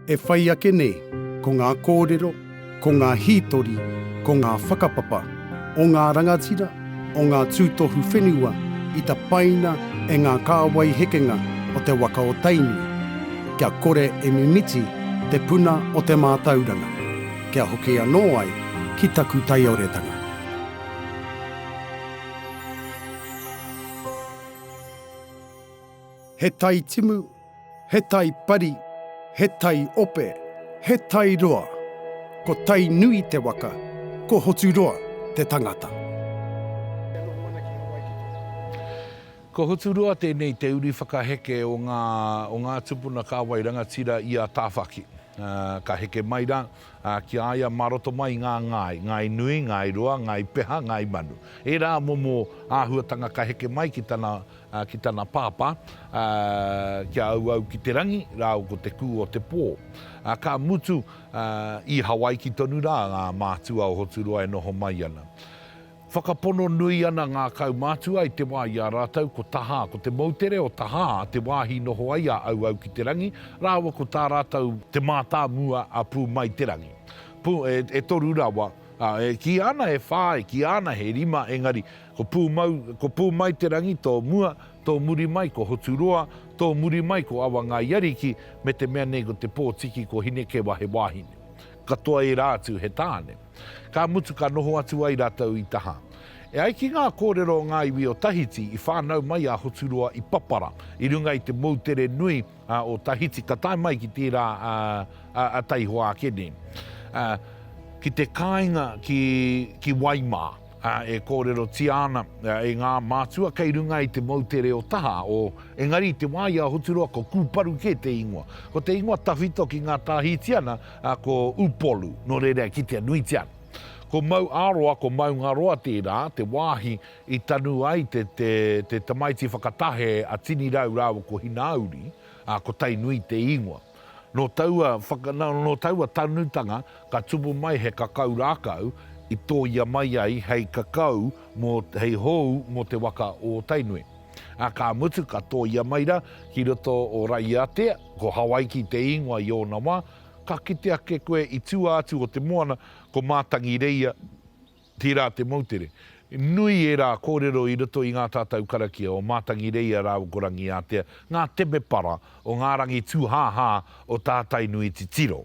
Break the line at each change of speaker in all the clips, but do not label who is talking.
E whai ake nei, ko ngā kōrero, ko ngā hītori, ko ngā whakapapa o ngā rangatira, o ngā tūtohu whenua i tapaina e ngā kāwai hekenga o te waka o Tainui, kia kore e mimiti te puna o te mātauranga, kia hoki anō ai ki taku taioretanga. He tai timu, He tai pari, he tai ope, he tai roa. Ko Tainui te waka, ko Hoturoa te tangata. E noho ana ki Hawaii ki te wā.
Ko Hoturoa tēnei te uri whakaheke o ngā o ngā tupuna kāwai rangatira i a Tāwhaki. Ka heke mai rā ki a ia mā roto mai i ngā ngāi, ngāi nui, ngāi roa, ngāi peha, ngāi manu. Ērā momo āhuatanga ka heke mai ki tana ki tana pāpā, kia auau ki te rangi rāua ko te kū o te pō. Ka mutu, i Hawaiki tonu rā ngā mātua o Hoturoa e noho mai ana. Whakapono nui ana ngā kaumātua i te wā i a rātou ko Tahā, ko te moutere o Tahā te wāhi i noho ai a auau ki te rangi, rāua ko tā rātou te mātāmua a Pū Mai Te Rangi. Pū, e toru rawa, e kīia ana e whā, e kīia ana he rima, engari, Ko Pūmau, ko Pūmaiterangi tō mua, tō muri mai ko Hoturoa, tō muri mai ko Awangaiariki, me te mea nei ko Te Pōtiki ko Hinekewa he wāhine. Katoa ērā atu he tāne. Ka mutu ka noho atu ai rātou i Taha. E ai ki ngā kōrero o ngā iwi o Tahiti, i whānau mai a Hoturoa i Papara, i runga i te moutere nui o Tahiti, ka tae mai ki tērā a Taihoa ake nei, ki te kāinga ki Waimā. e kōrerotia ana e ngā mātua kei runga i te moutere o Taha, o, engari i te wā i a Hoturoa ko Kūparu kē te ingoa. Ko te ingoa tawhito ki ngā Tāhitiana ko Upolu, nō reira e kitea nuitia ana. Ko Mauāroa, ko Maungaroa tērā, te wāhi i tanu ai te, te, te tamaiti whakatahe a Tinirau rāua ko Hinauri, ā, ko Tainui te ingoa. Nō taua whakanau, nō taua tanutanga ka tupu mai he kakau rākau i tōia mai ai hei kakau mō, hei hou mō te waka o Tainui. Ā, ka mutu ka tōia mai ra ki roto o Raiatea, ko Hawaiki te īngoa i ōna wā, ka kite ake koe i tua atu o te moana ko Mātangireia, Tērā te moutere. Nui ērā kōrero i roto i ngā tatau karakia o Mātangireia rāua ko Rangiātea, ngā temepara o ngā rangi tūhāhā o tā Tainui titiro.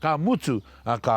Ka mutu, ka,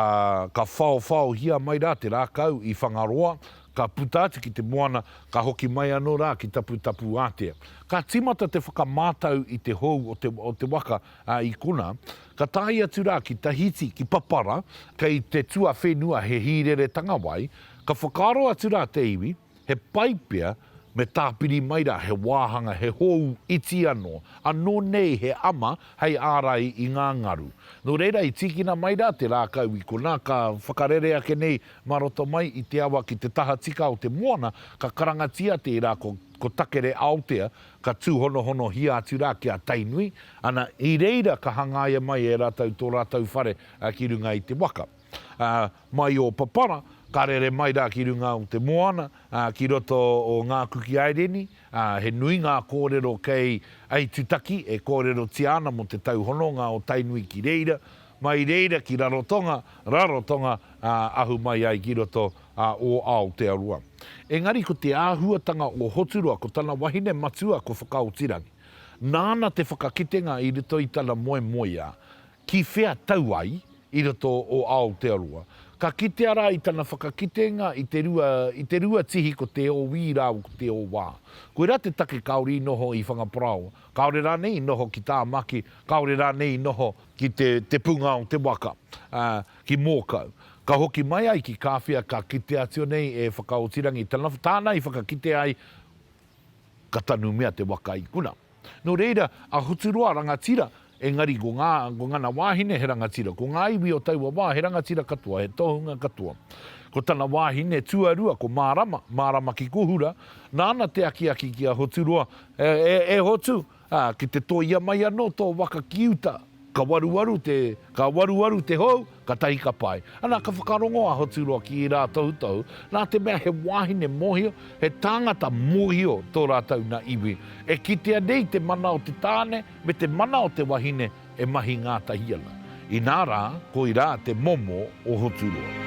ka whaowhaohia mai rā te rākau i Whangaroa, ka puta atu ki te moana, ka hoki mai anō rā ki Taputapuātea. Ka tīmata te whakamātau i te hou o te, o te waka, a Ikona, ka tae atu rā ki Tahiti, ki Papara, kei te tuawhenua he hīreretanga wai, ka whakaaro atu rā te iwi, he pai pea me tāpiri mai rā he wāhanga, he hōu iti anō, anō nei he ama hei ārai i ngā ngaru. Nō reira i tīkina mai rā te rākau i konā, ka whakarere ake nei mā roto mai i te awa ki te tahatika o te moana, ka karangatia tērā ko Takere Aotea, Ka tūhonohonohia atu rā ki a Tainui, ana, i reira ka hangaia mai e rātou tō rātou whare ki runga i te waka. Mai o Papara, ka rere mai rā ki runga o te moana, ki roto o Ngā Kuki Aireni, he nui ngā kōrero kei Aitutaki e kōrerotia ana mō te tauhononga o Tainui ki reira, mai reira ki Rarotonga, Rarotonga, ahu mai ai ki roto a o Aotearoa. Engari ko te āhuatanga o Hoturoa ko tana wahine matua ko Whakaotirangi. Nāna te whakakitenga i roto i tana moemoeā, ki whea tau ai i roto o Aotearoa. Ka kitea rā i tana whakakitenga i te rua i te rua tihi ko Te Owī rāua ko Te Owā. Koirā te take kāore i noho i Whangaparaoa, kāore rānei i noho ki Tāmaki, kāore rānei i noho ki te te punga o te waka. Ki Mōkau. Ka hoki mai ai ki Kāwhia ka kite atu nei e Whakaotirangi tana, tāna i whakakite ai ka tanumia te waka i kuna. Nō reira, a Hoturoa rangatira, engari ko ngā, ko ngana wāhine he rangatira, ko ngā iwi o taua wā he rangatira katoa, he tohunga katoa. Ko tana wāhine tuarua ko Mārama, Mārama ki Kohura, nāna te akiaki ki a Hoturoa, E, e, e Hotu, Ā, ki te tōia mai anō tō waka ki uta, ka waruwaru te, ka waruwaru te hou, katahi ka pai. Ana ka whakarongo a Hoturoa ki ērā tohutohu, nā te mea he wāhine mōhio, he tāngata mōhio tō rātou nā iwi. E kitea nei te mana o te tāne me te mana o te wahine e mahi ngātahi ana, inā rā, koirā te momo o Hoturoa.